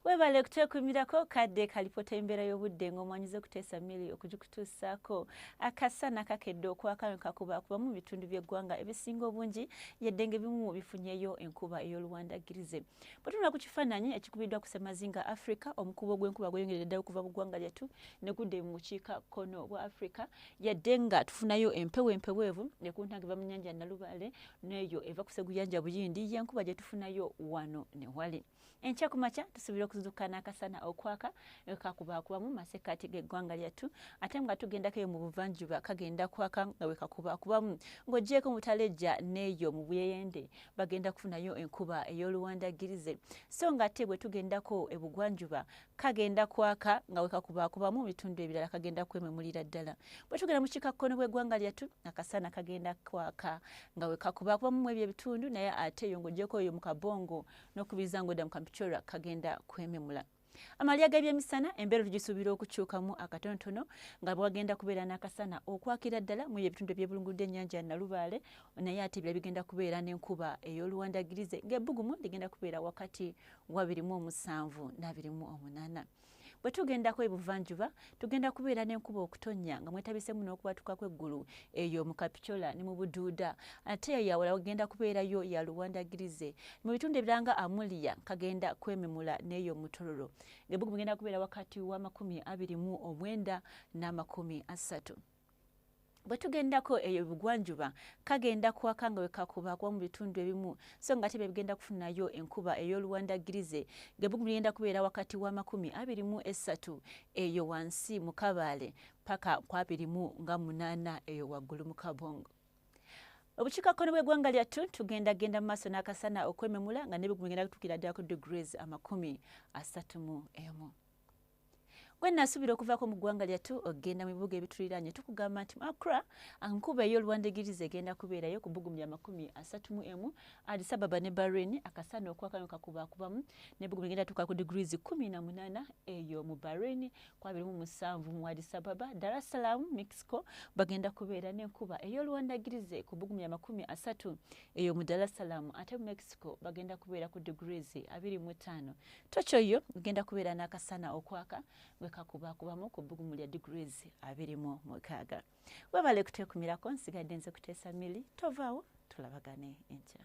webale kutwekumirako kadde kalipota embeera y'obudde ng'omwanyiza okuteesa mili okugikutuusaako akasana kakedde okwakano kakuba kuba mu bitundu by'eggwanga ebisinga obungi yadde ng'ebimu bifunyeyo enkuba ey'oluwandagirize bwetunula ku kifaananyi ekikubiddwa ku semazinga afrika omukuba ogw'enkuba gweyongeredde ddala okuva mu ggwanga lyattu ne gudde mu bukiika kkono bwa afrika yadde nga tufunayo empewo empeweevu nekuntange va mu nnyanja nalubaale neeyo eva kuseguyanja buyindi yenkuba gyetufunayo wano newali enkya ku makya tusuubira okuzuuka n'akasana okwaka ekakubakubamu masekati geggwanga lyattu ate nga tugendako eyo mu buvanjuba kagenda kwaka nga wekakubakubamu ng'ogyeko mutalejja neeyo mu buyeyende bagenda kufunayo enkuba ey'oluwandagirize so nga ate bwe tugendako ebugwanjuba kagenda kwaka nga wekakubaakubamu mu bitundu ebirala kagenda kwememulira ddala bwe tugenda mu kikakkono bw'eggwanga lyattu akasana kagenda kwaka nga wekakubaakubamu mu ebyo ebitundu naye ate eyo ng'ogyeko eyo mu kabongo n'okubiriza ng'odda mu kampichora kagenda kwememula amalya g'ebyemisana embeera tugisuubira okukyukamu akatonotono nga bwagenda kubeera n'akasana okwakira ddala mu ebitundu ebyebulungudde ennyanja nalubaale naye ate ebira bigenda kubeera n'enkuba ey'oluwandagirize ng'ebbugumu ligenda kubeera wakati wabiri mu omusanvu n'abiri mu omunaana bwe tugendako ebuvanjuba tugenda kubeera n'enkuba okutonnya nga mwetabisemu n'okubatuka kw'eggulu eyo mu kapitola ne mu buduuda ate eyo yawala wagenda kubeerayo ya luwandagirize mu bitundu ebiranga amuliya kagenda kwememula n'eyo omutololo ng'ebugu bugenda kubeera wakati w'amakumi abiri mu omwenda n'amakumi asatu bwe tugendako eyo ebugwanjuba kagenda kwaka nga wekakuba kuba mu bitundu ebimu so nga tebe bigenda kufunayo enkuba ey'oluwanda girize gebugumu ligenda kubeera wakati wa makumi abiri mu esatu eyo wansi mu kabaale paka ku abiri mu nga munaana eyo waggulu mu kabongo obukiikakkono bw'eggwanga lyattu tugenda genda mu maaso n'akasana okwememula nga n'ebigumu bigenda kutuukira ddala ku degrees amakumi asatu mu emu gwe nasuubira okuvaako mu ggwanga lyattu okugenda mu bibuga ebituliraanye tukugamba nti makra nkuba ey'oluwandigiriza egenda kubeerayo ku bugumi lya makumi asatu mu emu addis ababa ne bahrain akasaana okwakano kakubaakubamu ne bugumi egenda tuuka ku degrees kumi na munaana eyo mu bahrain kwabiri mu musanvu mu addis ababa dar es salaam mexico bagenda kubeera n'enkuba ey'oluwandagirize ku bugumi lya makumi asatu eyo mu dar es salaam ate mu mexico bagenda kubeera ku degrees abiri mu ttaano tokyo yo ogenda kubeera n'akasana okwaka bwe kakubakubamu ku bbugumu lya degrees abiri mu mukaaga webale kuteekumirako nsigadde nze kuteesa mili tovaawo tulabagane enkya